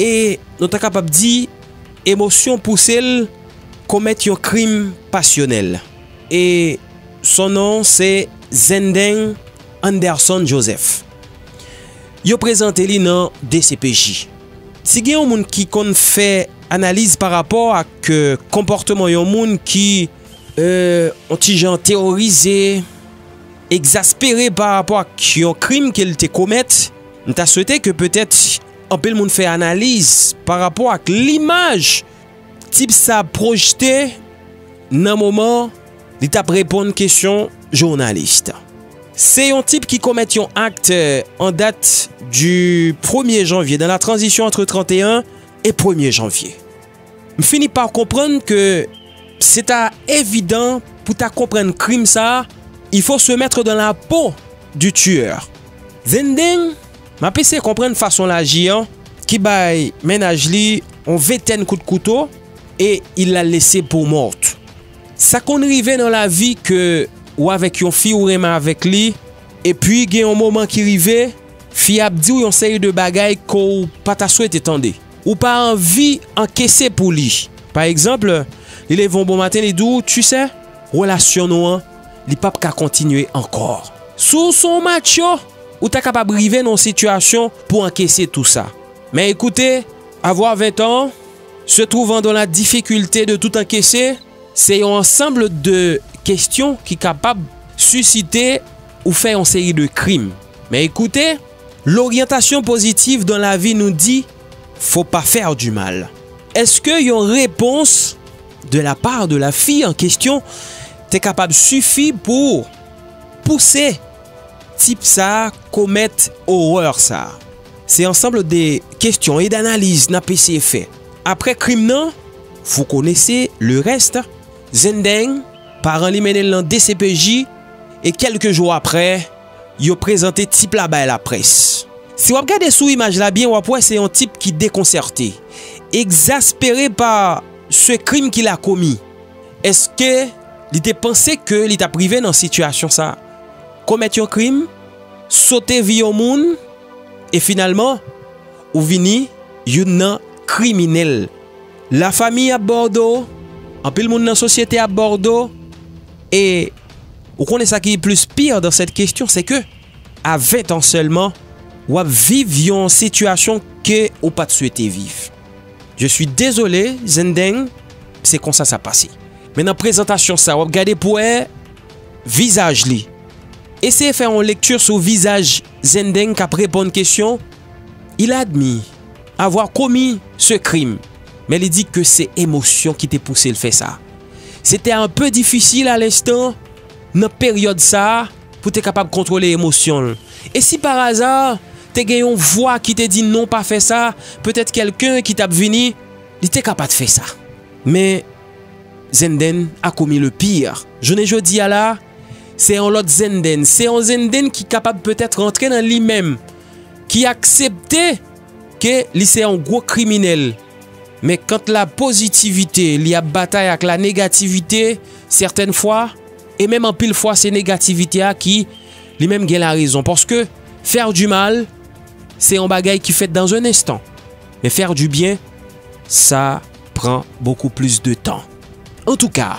e nou ta kapab di emosyon pouse l komèt yon krim pasyonèl e son non se Zendeng Anderson Joseph. Yo prezante li nan dcpj. Si gen yon moun ki konn fè analiz pa rapò ak konpòteman yon moun ki yon ti jan teworize, egzaspere pa rapò ak yon krim ke l te komèt, m ta swete ke petèt Anpil moun fè analiz pa rapò ak limaj tip sa pwojte nan moman li tap reponn kesyon jounalis. Se yon tip ki komèt yon akt an dat di premye janvye nan la tranzisyon antre 31 e premye janvye. M fini pa konprann ke se ta evidan pou ta konprann krim sa, il faut se mettre dans la peau du tueur. Dinding, m ap eseye konprann fason l aji an ki bay mennaj li yon ventèn kout kouto e il la laisse pour morte. Sa konn rive nan lavi ke ou avèk yon fi ou renmen avèk li epi gen yon moman ki rive fi a ap di w yon seri de bagay ke w pa ta swete tande. Ou pa anvi ankese pou li. Pa egzanp, li leve yon bon maten li di w, tu sè, relasyon nou an, li pap ka kontinye ankò. Si w se yon matcho, ou ta kapab rive nan yon sitiyasyon pou ankese tou sa. Men ekoute, avoir 20 ans, se trouvant dans la difficulté de tout encaisser, se yon ansanb de kestyon ki kapab sisite ou fè yon seri de krim. Men ekoute. L'orientation positive dans la vie nous dit faut pas faire du mal. Eske yon repons de la part de la fille en question te kapab sifi pou pouse tip sa komèt horreur sa? Se ensemble de kestyon et d'analyse nap eseye fè. Aprè krim nan, vous connaissez le reste, Zendeng, paran li mennen l nan dcpj e kelke jou aprè, yo prezante tip la bay laprès. Si w ap gade sou imaj la byen w ap wè se yon tip ki dekonsète, egzaspere pa se krim ki la komi. Eske li te panse ke li t ap rive nan sitiyasyon sa? Komèt yon krim? Sote vi yon moun? E finalman ou vini youn nan kriminèl. Lafami ap ba w do, anpil moun nan sosyete ap ba w do e. Ou konnen sa ki plis pire dans cette question c'est que a 20 ans seulement wap viv yon situation ke ou pat swete viv. Je suis désolé Zendeng se konsa sa pase. Men nan prezantasyon sa wap gade pou wè vizaj li. Eseye fè yon lecture sou vizaj Zendeng kap reponn kesyon il a admis avoir commis ce crime. men li di ke se emosyon ki te pouse l fè sa. Se te un peu difisil a l'instant, nan peryòd sa a, pou te kapab kontwole emosyon l. E si par hasard, te gen yon vwa ki te di non pa fè sa, petèt kèlken ki t ap vini, li te ka pa t fè sa. Men, Zenndenn a commis le pire. Jounen jodi a la, se yon lòt Zenndenn, se yon Zenndenn ki kapab petèt rantre nan li menm, ki aksepte, Ke li se yon gwo kriminèl. Men kant la pozitivite li ap batay ak la negativite sètèn fwa e menm anpil fwa se negativite a ki li menm gen la rezon. Paske fè du mal se yon bagay ki fèt dan un enstan. Men fè du byen sa pran bokou plis de tan. Antouka!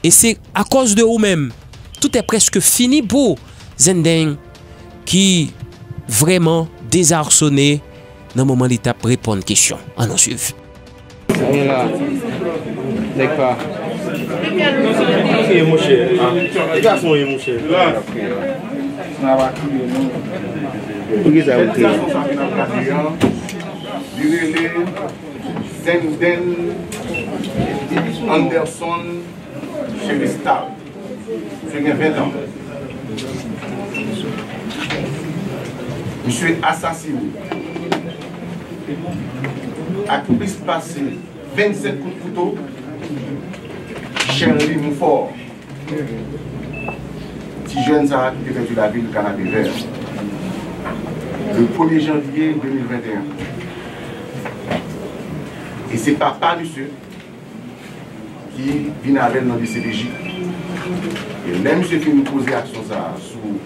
E se akòz de ou menm tout è prèske fini pou Zendeng ki vrèman dezarsone nan moman li tap reponn kesyon. An nou swiv. Siye la nèg pa kriye monchè ti gason ye monchè nan pa kriye non poukisa yo kriye. Denden Anderson Celestal Misye gen 20 ans Misye asasine ak plis pase 27 kout kouto Sherley Monfort. Byen vre wi. Ti jèn sa ki te pèdi lavi l Kanapevè a, le premye janvye 2021. E se papa misye ki vin avè l nan dcpj. E lè misye fin poze aksyon sa a sou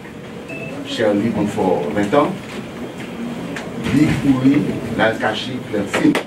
Sherley Bonfort Ventan, li kouri l al kache Clertine.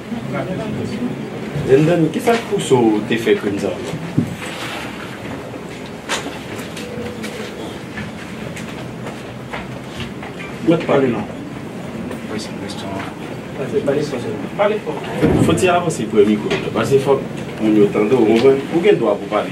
Zen Dany kisa k pouse w te fè krim sa yo? Mèt pale non. Fòti avanse pre mikro w la paske fòk moun yo tande w konprann. Ou gen dwa pou w pale.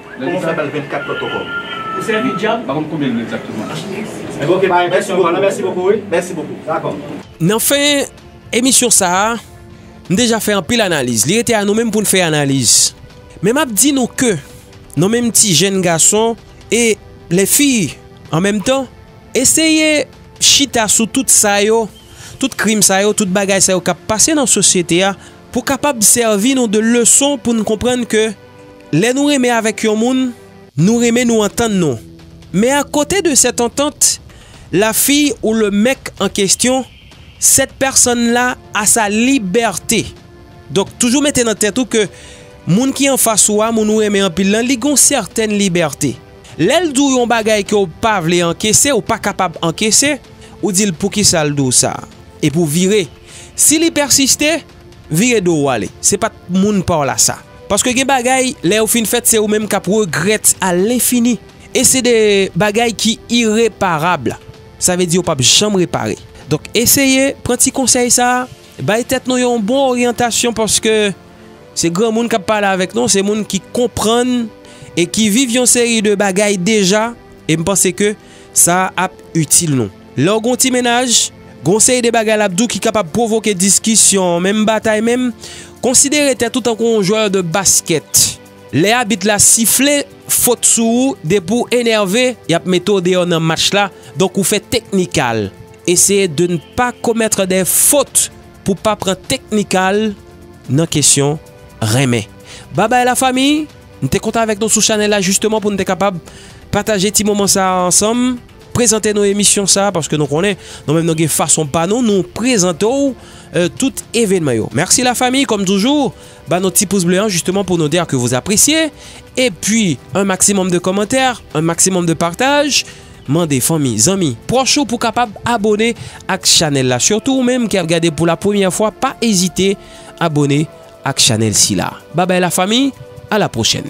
Kòman w fè bal 24 lòt ankò? Ou sèvi djab? Pa konn konbyen l ye egzakteman. Ebyen ok pa gen kesyon ankò nan mèsi bokou wi. Mèsi bokou. Dakò. Nan fen emisyon sa a, m deja fè anpil analiz. Li rete a nou menm pou n fè analiz. Men m ap di nou ke nou menm ti jenn gason e les filles en meme temps, eseye chita sou tout sa yo, tout krim sa yo, tout bagay sa yo k ap pase nan sosyete a pou kapab sèvi nou de leson pou n konprann ke Lè nou renmen avèk yon moun, nou renmen nou antann nou. Men a kote de sèt antant, la fi ou le mèk an kestyon, sèt pèsonn la a sa libète. Donk toujou mete nan tèt ou ke moun ki anfas ou a, moun ou renmen anpil lan, li gen yon sètèn libète. Lè l di w yon bagay ke w pa vle ankese, ou pa kapab ankese, ou di l poukisa l di w sa? Epi w vire. Si li pèsiste. Vire do w ale. Se pa t moun pa w la sa. Paske gen bagay, lè yo fin fèt, se ou menm k ap regrèt a lenfini. E se de bagay ki ireparab. Sa vle di yo p ap janm repare. Donk eseye pran ti konsèy sa a. Bay tèt nou yon bon oryantasyon paske se granmoun k ap pale avèk nou. Se moun ki konprann e ki viv yon seri de bagay deja. E m panse ke sa ap itil nou. Lè w gen yon ti mennaj, gen yon seri de bagay l ap di w ki kapab pwovoke diskisyon, menm batay menm. Konsidere tèt ou tankou yon jwè de baskèt. Lè abit la sifle fot sou ou, depi w enève, y ap mete w deyò nan match la. Donk ou fè teknikal. Eseye de n pa komètre de fot pou w pa pran teknikal nan kesyon renmen. Babay la fanmi! M te kontan avèk nou sou chanèl la jisteman pou n te kapab pataje ti moman sa a ansanm. Prezante nou emisyon sa a paske nou konnen nou menm nou gen fason pa nou nou prezante w tout evenman yo. Mèsi la fami kòm toujou ba nou ti pous ble an jisteman pou nou di a ke vou apresye e pi an maksimòm de kòmantè an maksimòm de pataj mande fanmi zanmi pwòch ou pou kapab abone ak chanèl la sitou ou menm ki ap gade pou la premyè fwa pa ezite abone ak chanèl si la babay la fami a la pwochèn.